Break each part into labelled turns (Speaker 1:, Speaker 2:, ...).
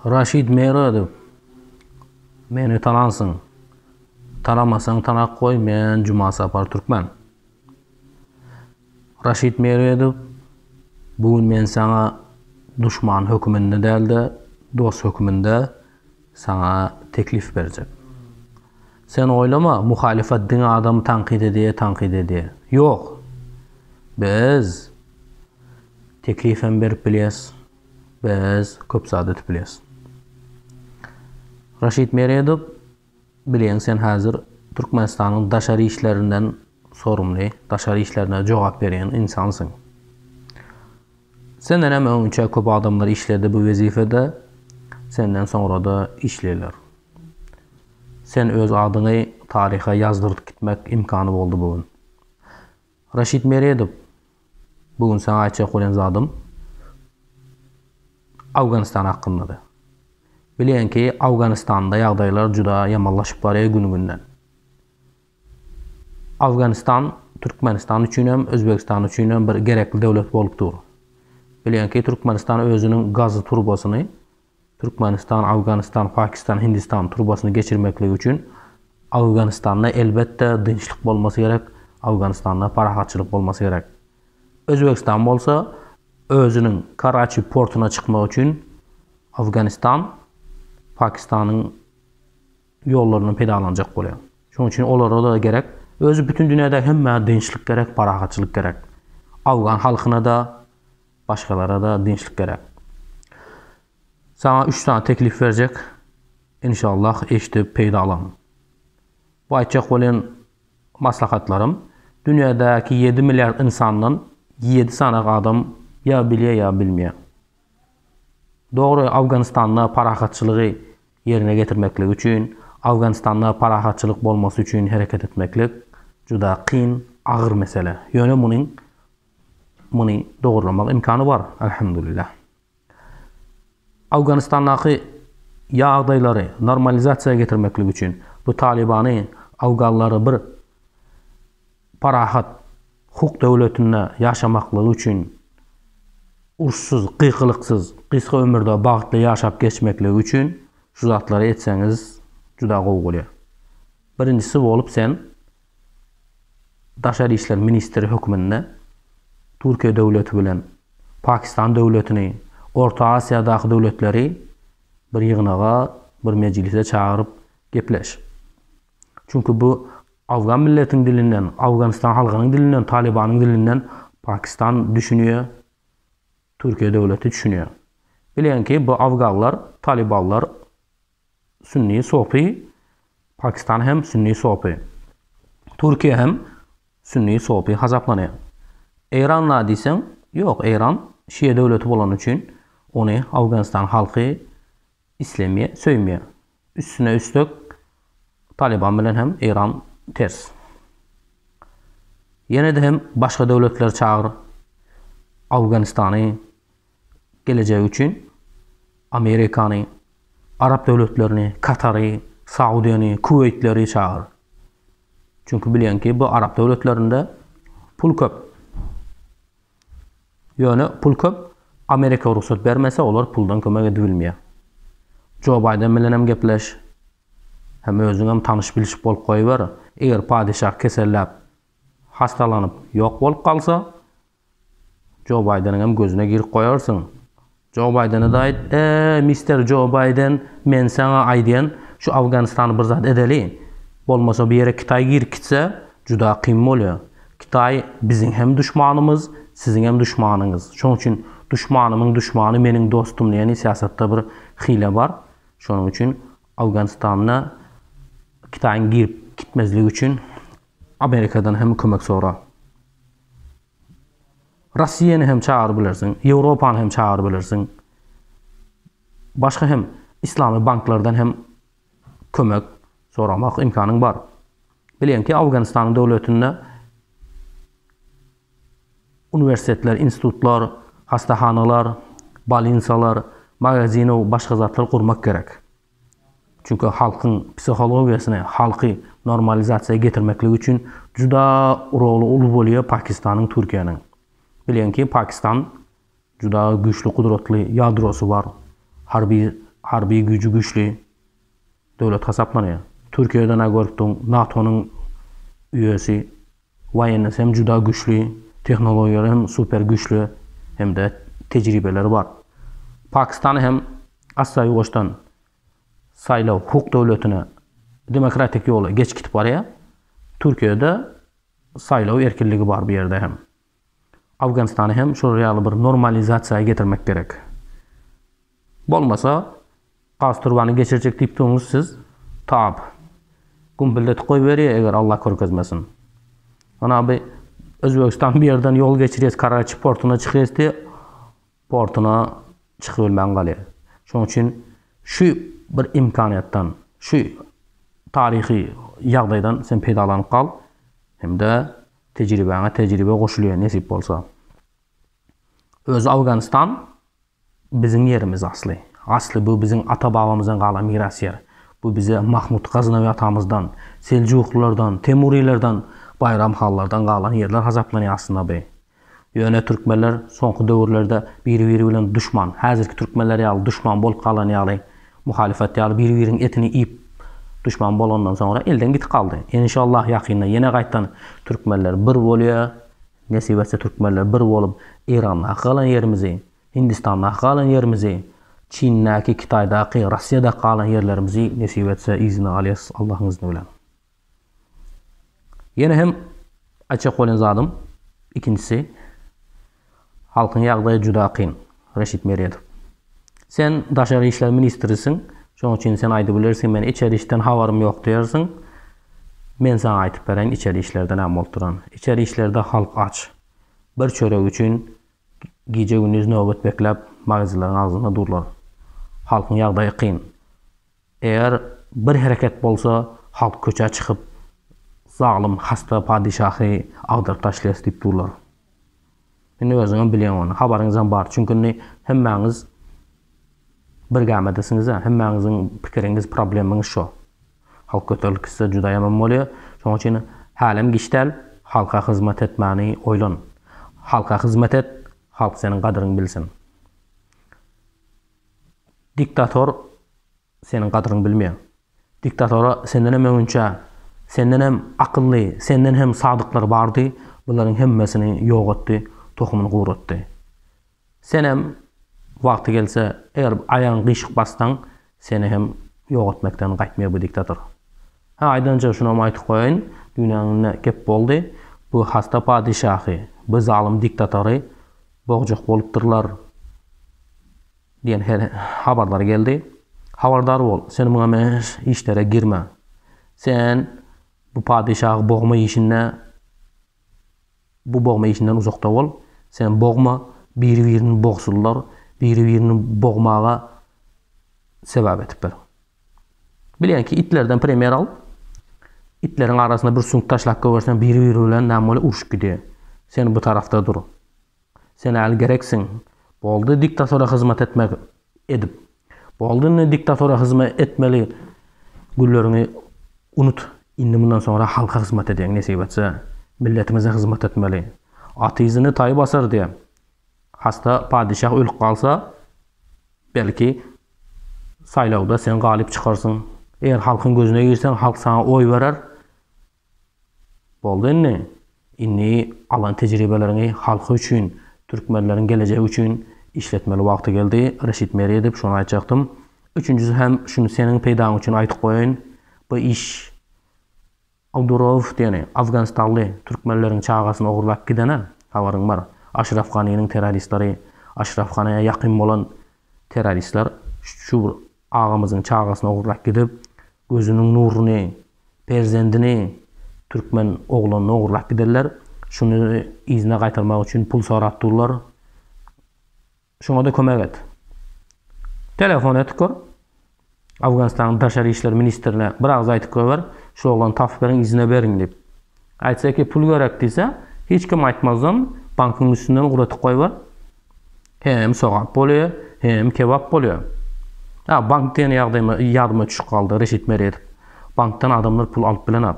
Speaker 1: Raşid Meradow, meni tanansyň. Tanamasaň tanap goý, men Jumasapar Türkmen. Raşid Meradow, bu gün men saňa duşman höküminde däl-de, dost höküminde Saňa teklif berjek. Sen oýlama, muhalyfat diňe adamy tankyt edýä, tankyt edýä. Ýok! Biz teklif hem berip bilýäs, biz köp zat edip bilýäs. Raşid Meredow Bileýin sen häzir Türkmenistanyň daşary işlerinden sorumly, daşary işlerine jogap berýän ynsansyň. Senden hem öňinçä köp adamlar işledi bu wezipede, senden soňra-da işleýler. Sen öz adyňy taryha ýazdyryp gitmek imkany boldy bu gün. Raşid Meredow, Bu gün saňa aýtjak bolýan zadym Awganistan hakyndady. Bilýän ki, Awganistanda ýagdaýlar juda ýamanlaşyp barýar gün-günden. Awganistan Türkmenistan üçin hem, Özbegistan üçin hem bir gerekli döwlet bolup dur. Bilýän ki, Türkmenistan özüniň gazy turbasyny Türkmenistan, Awganystan, Pakistan, Hindistan turbasyny geçirmekligi üçin Awganystanda elbetde dynçlyk bolmasy gerek, Awganystanda parahatçylyk bolmasy gerek. Özbegistan bolsa özüniň Karaçi portuna çykmagy üçin Awganystan, Pakistanyň ýollaryndan peýdalanjak bolýar. Şonuň üçin olara-da gerek, özi bütin dünýädäki hemmä dynçlyk gerek, parahatçylyk gerek. Awgan halkyna-da, Başgalara-da dynçlyk gerek. Saňa üç sany teklip berjek, inşallah eşidip peýdalan. Bu aýtjak bolan maslahatlarym dünýädäki ýedi milliard ynsandan ýedi sany adam ýa bilýär ýa bilmeýär. Dogry Awganystanda parahatçylygy ýerine getirmeklik üçin, Awganystanda parahatçylyk bolmasy üçin hereket etmeklik juda kyn, agyr mesele. Ýöne munuň Muny dogurlamak ymkany bar, alhamdulillah. Awganystandaky ýagdaýlary normalizasiýa getirmeklik üçin bu Talybany, awganlary bir parahat hukuk döwletinde ýaşamaklygy üçin, uruşsyz, gygylyksyz, gysga ömürde bagtly ýaşap geçmekligi üçin şu zatlary etseňiz juda gowy bolýar. Birinjisi bolup sen Daşary işler ministri hökmünde Türkiýe döwleti bilen Pakistan döwletini, Orta Aziýadaky döwletleri bir ýygnaga, bir mejlise çagyryp gepleş. Çünki bu Awgan milletiň dilinden, Awganistan halgynyň dilinden, Talybanyň dilinden Pakistan düşünýär, Türkiýe döwleti düşünýär. Bileýin ki, bu Awganlar, Talybanlar Sünni sopy, Pakistan hem sünni sopy. Türkiýe hem sünni sopy hasaplanýar. Eýran la diýseň, ýok, Eýran şia döwleti bolany üçin ony Awganistan halky islemýär, söýmýär. Üstüne üstek Talyban bilen hem Eýran ters. Ýene-de hem başga döwletleri çagyr, Awganistany, Gelejek üçin Amerikany, Arap döwletlerini, Katary, Saudiýany, Kuweýtleri çagyr. Çünki bilýän ki, bu Arap döwletlerinde pul köp. Ýöne pul köp, Amerika rugsat bermese, olar puldan kömek edibilmeýär. Jo Baýden bilenem gepleş, hem özüňem tanyş-bilşik bolup goýber. Eger padeşah keselläp, hastalanyp, ýok bolup galsa, Jo Baýdeniň hem gözüne girip goýarsyň. Jo Baýdene-de aýt, Eý, mister Jo Baýden, men saňa aýdýan, şu Afganistany bir zat edeli. Bolmasa bu ýere Kitaý girip gitse, juda kyn bolýar. Kitaý biziň hem duşmanymyz, siziň hem duşmanyňyz. Şonuň üçin duşmanymyň duşmany meniň dostum diýen syýasatda bir hile bar. Şonuň üçin Afganistanda Kitaýyň girip gitmezligi üçin Amerikadan hem kömek sora. Russiýany hem çagyryp bilersiň, Ýewropany hem çagyryp bilersiň. Başga hem islamy banklardan hem kömek soramak imkanyň bar. Bilýän ki, Awganystanyň döwletinde uniwersitetler, institutlar, hassahanalar, bolnitsalar, magazinow başga zatlar gurmak gerek. Çünki halkyň psihologiýasyny, halky normalizasiýa getirmeklik üçin juda roly uly bolýar Pakistanyň, Türkiýäniň. Bilýän ki, Pakistan juda güýçli, gudratly ýadrosy bar, harby harby güýji güýçli döwlet hasaplanýar. Türkiýeden-ä görüpdiň, NATO-nyň üýesi. Waýenniz hem juda güçli, tehnologiýalary hem super güçli hem-de tejribeleri bar. Pakistany hem asla ýuwaşdan saýlaw hukuk döwletine, demokratik ýola geç gitip barýar. Türkiýede saýlaw erkinligi bar bu ýerde hem. Awganystany hem şular ýaly bir normalizasiýa getirmek gerek. Bolmasa, gaz turbany geçirjek diýip durňyz siz, tap, gümpüldetip goýberýär eger Allah görkezmesin. Ana bi Özbegistan bu ýerden ýol geçirýäs, Karaçi portuna çykýas diýe, portuna çykybilmän galýar. Şonuň üçin şu bir imkanyýetden, şu taryhy ýagdaýdan sen peýdalanyp gal hem-de Tejribäňe tejribe goşulýar nesip bolsa. Özi Awganistan biziň ýerimiz asly. Asly bu biziň ata babamyzdan galan miras ýer. Bu bize Mahmut Gaznawi atamyzdan, Seljuklylardan, Temurilerden, Baýram hanlardan galan ýerler hasaplanýar aslynda bu. Ýöne türkmenler soňky döwürlerde biri-biri bilen duşman, häzirki türkmenler ýaly duşman bolup galan ýaly Muhalyfat ýaly bir biriň etini iýip duşman bolandan soňra elden gitip galdy. Enşallah ýakynda ýene gaýtdan türkmenler bir bolýa, nesip etse türkmenler bir bolup Eýrandaky galan ýerimizi, Hindistandaky galan ýerimizi, Çindäki, Kitaýdaky, Rossiýadaky galan ýerlerimizi nesip etse yzyna alyas Allahyň yzny bilen. Ýene hem aýtjak bolan zadym, ikinjisi, halkyň ýagdaýy juda kyn, Reşit Meredow. Sen daşary işler ministrisiň, şonuň üçin sen aýdyp bilersiň, men içeri işden habarym ýok diýersiň. Men saňa aýdyp bereýin, içeri işlerde näme bolup duranyny. Içeri işlerde halk aç. Bir çörek üçin gije-gündiz nöbet bekläp, magazinleriň agzynda durlar. Halkyň ýagdaýy kyn. Eger bir hereket bolsa halk köçä çykyp zalym hasta padyşahy agdaryp taşlaýas diýip durlar. Indi özüňem bilýäň ony, habaryňyzam bar. Çünki indi hemmäňiz bir gämidesiňizä, hemmäňiziň pikiriňiz, problemiňiz şo. Halk göterilip gitse juda ýaman bolýa. Şoň üçin hälem giç däl, halka hyzmat etmäni oýlan. Halka hyzmat et, halk seniň gadyryňy bilsin. Diktator seniň gadyryňy bilmeýär. Diktatora sendenem öňinçä, sendenem akylly, senden hem sadyklar bardy, bularyň hemmesini ýok etdi, tohumyny guratdy. Senem wagty gelse, eger aýagyňy gyşyk bassaň, seni hem ýok etmekden gaýtmaýar bu diktator. Hä, aýdanjygy şunam aýtyp goýaýyn, dünýäňde gep boldy, bu hasta padyşahy, bu zalym diktatory bogjak bolupdyrlar diýen habarlar geldi. Habardar bol, sen muňa meňeş işlere girme. Sen bu padyşahy bogma işinde bu bogma işinden uzakda bol. Sen bogma, biri-birini bogsunlar, biri-birini bogmaga sebäp edipdir. Bileňki itlerden primer al. Itleriň arasyna bir süňk taşlap goýberseň biri biri bilen näme bolýar urşup gidýär. Sen bu tarafda dur. Sen äl gereksiň. Boldy diktatora hyzmat etmek edip. Boldy indi diktatora hyzma etmeli günleriňi unut. Indi mundan soňra halka hyzmat edýäň nesip etse. Milletimize hyzmat etmeli. Aty yzyny taý basar diýýär. Hassa padyşah ölüp galsa, belki, saýlawda sen galyp çykarsyň. Eger halkyň gözüne girseň, halk saňa oý berer. Boldy indi. Indi alan tejribeleriňi halky üçin, türkmenleriň gelejegi üçin işletmeli wagty geldi. Reşit Meri edip şony aýtjakdym. Üçünjisi hem şuny seniň peýdaň üçin aýtyp goýaýyn. Bu iş Abdurouf diýeni afganistanly türkmenleriň çagasyny ogurlap gidene habaryň bar. Aşraf Ganiniň terroristleri, Aşraf Ganiä ýakyn bolan terroristler şu bir agamyzyň çagasyny ogurlap gidip, gözüniň nuruny, perzendini, türkmen oglanyny ogurlap giderler. Şuny yzyna gaýtarmak üçin pul sorap durlar. Şuňada kömek et. Telefon et kör. Awganystanyň daşary işler ministrine bir agyz aýtyp goýber, şu oglany tapyp beriň yzyna beriň diýip. Aýtsa ki pul gerek diýse, hiç kim aýtmazdan bankyň üstünden ugratyp goýber. Hem sogap bolýa, hem kebap bolýa. A bank diýen ýagdaýyma ýadyma düşüp galdy Reşit Meredow. Bankdan adamlar pul alyp bilenok.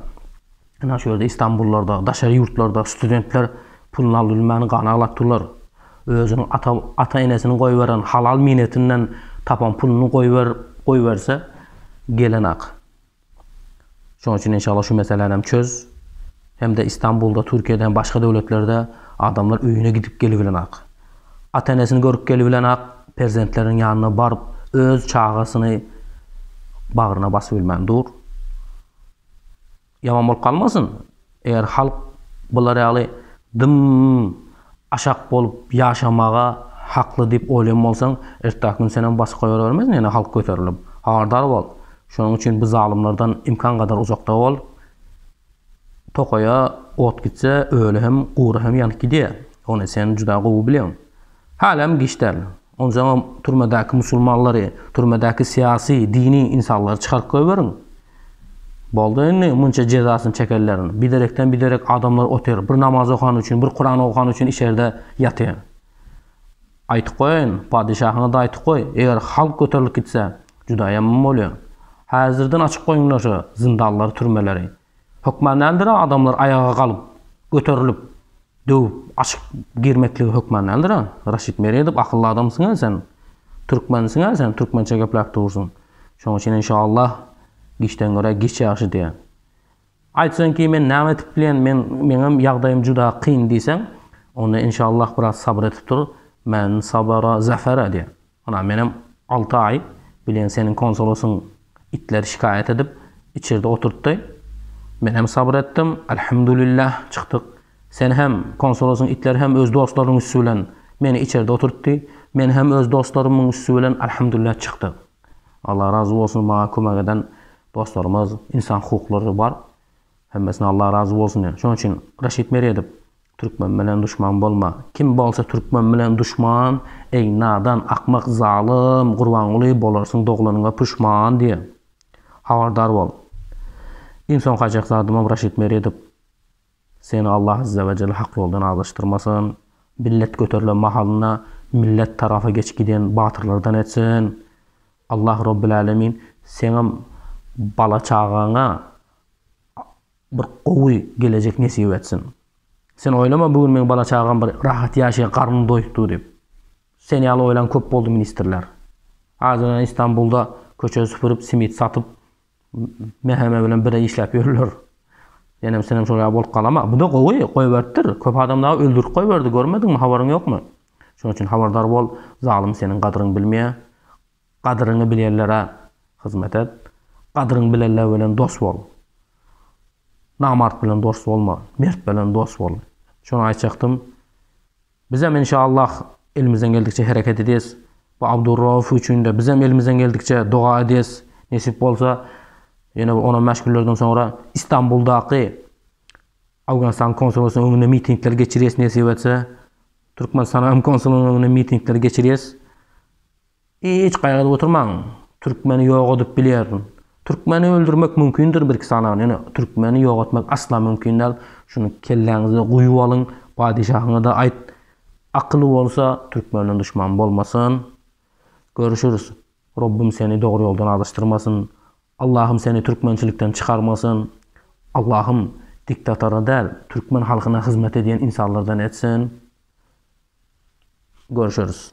Speaker 1: Ynha şu ýerde Istanbullarda, daşary ýurtlarda studentler puluny alyp bilmän gan aglap durlar. Özüniň ata ata-enesiniň goýberen halal miýnetinden tapan puluny goýber goýberse gelenok. Şonuň üçin inşallah şu meseläni hem çöz. Hem-de Istanbulda, Türkiýede hem başga döwletlerde adamlar öýüne gidip gelibilenok. Ata-enesini görüp gelibilenok, perzentleriň ýanyna baryp öz çagasyny bagryna basyp bilmän dur. Ýaman bolup galmasyn, eger halk bular ýaly dym aşak bolup ýaşamaga hakly diýip oýlan bolsaň, ertäki gün senem basyk goýabermez nene halk göterilip. Habardar bol. Şonuň üçin bu zalymlardan imkan gadar uzakda bol. Tokaýa ot gitse, öli hem, gury hem ýanyp gidýär. Ony sen juda gowy bilýäň. Hälem giç däl. Onjaňam türmedäki musulmanlary, türmedäki syýasy, dini ynsanlary çykaryp goýberiň. Boldy indi, munça jezasyny çekenleriň. Biderekden biderek adamlar otyr. Bir namaz okany üçin, bir Kuran okany üçin içerde ýatyr. Aýtyp goýaýyn, padeşahyňa-da aýtyp goý, eger halk göterilip gitse, juda ýaman bolýar. Häzirden açyp goýuňlar şu zyndanlary, türmeleri. Hökman däldir-ä adamlar aýaga galyp, göterilip, döwüp, açyp girmekligi hökman däldir-ä. Raşid Meredow akylly adamsyň-a sen. Türkmensiň-ä sen, türkmençe gepläp dursuň. Şoň üçin enşallah giçden görä giç ýagşy diýýän. Aýtsaň ki men näme edip bilýän, men meňem ýagdaýym juda kyn diýseň, onda enşallah biraz sabyr edip dur, men sabara zafera diýýän. Ynha menem alty aý bilen seniň konsulusyň itleri şikaýat edip içerde oturtdy. Menem sabyr etdim. Alhamdulillah çykdyk. Sen hem, konsulusyň itleri hem öz dostlarynyň üsti bilen meni içerde oturtdy. Men hem öz dostlarymyň üsti bilen alhamdulillah çykdyk. Allah razy bolsun maňa kömek eden dostlarymyz, ynsan hukuklary bar. Hemmesine Allah razy bolsun diýen. Şonuň üçin Raşid Meredow Türkmen bilen duşman bolma. Kim bolsa türkmen bilen duşman, eý, nadan, akmak, zalym, Gurbanguly, bolarsyň doglanyňa puşman diýen. Habardar bol. Iň soňky aýjak zadymam Raşid Meredow. Seni Allah Azze we Celle hak ýoldan azaşdyrmasyn. Millet göterilen mahalynda millet tarafa geçip giden batyrlardan etsin. Allah Robbil Alemin seňem bala çagaňa Bir gowy gelejek nesip etsin. Sen oýlama bu gün meň bala çagam bir rahat ýaşaýar garnyny doýupdyr diýip. Sen ýaly oýlan köp boldy ministrler. Adynana Istanbulda köçe süpürip simit satyp Meheme bilen bire işläp ýörler. Senem senem şol ýaly bolup galama. Buda gowy goýberipdir. Köp adam dagy öldürip goýberdi görmediňmi habaryň ýokmy. Şonuň üçin habardar bol zalym seniň gadyryňy bilmeýär. Gadyryňy bilýänlere hyzmat et. Gadyryňy bilenler bilen dost bol. Namart bilen dost bolma. Mert bilen dost bol. Şony aýtjakdym. Bizem enşallah elimizden geldikçe hereket edýäs. Bu Abdurrauf üçin-de bizem elimizden geldikçe doga edýäs. Nesip bolsa, ýene bir on-on bäş günlerden soňra Istanbuldaky Owganystanyň konsulasynyň öňünde mitingler geçirýäs nesip etse. Türkmenistanyň hem konsulasynyň öňünde mitingler geçirýäs. Hiç gaýgyda oturmaň. Türkmeni ýok edip bilýärin. Türkmeni öldürmek mümkindir birki sanagan, ýöne türkmeni ýok etmek asla mümkin däl. Şuny kelläňize guýup alyň. Padeşahyňada aýt. Akyly bolsa türkmenden duşman bolmasyn. Görüşüris. Robbym seni dogry ýoldan azaşdyrmasyn. Allahym seni türkmençilikden çykarmasyn. Allahym diktatora däl türkmen halkyna hyzmat edýän insanlardan etsin. Görüşüris.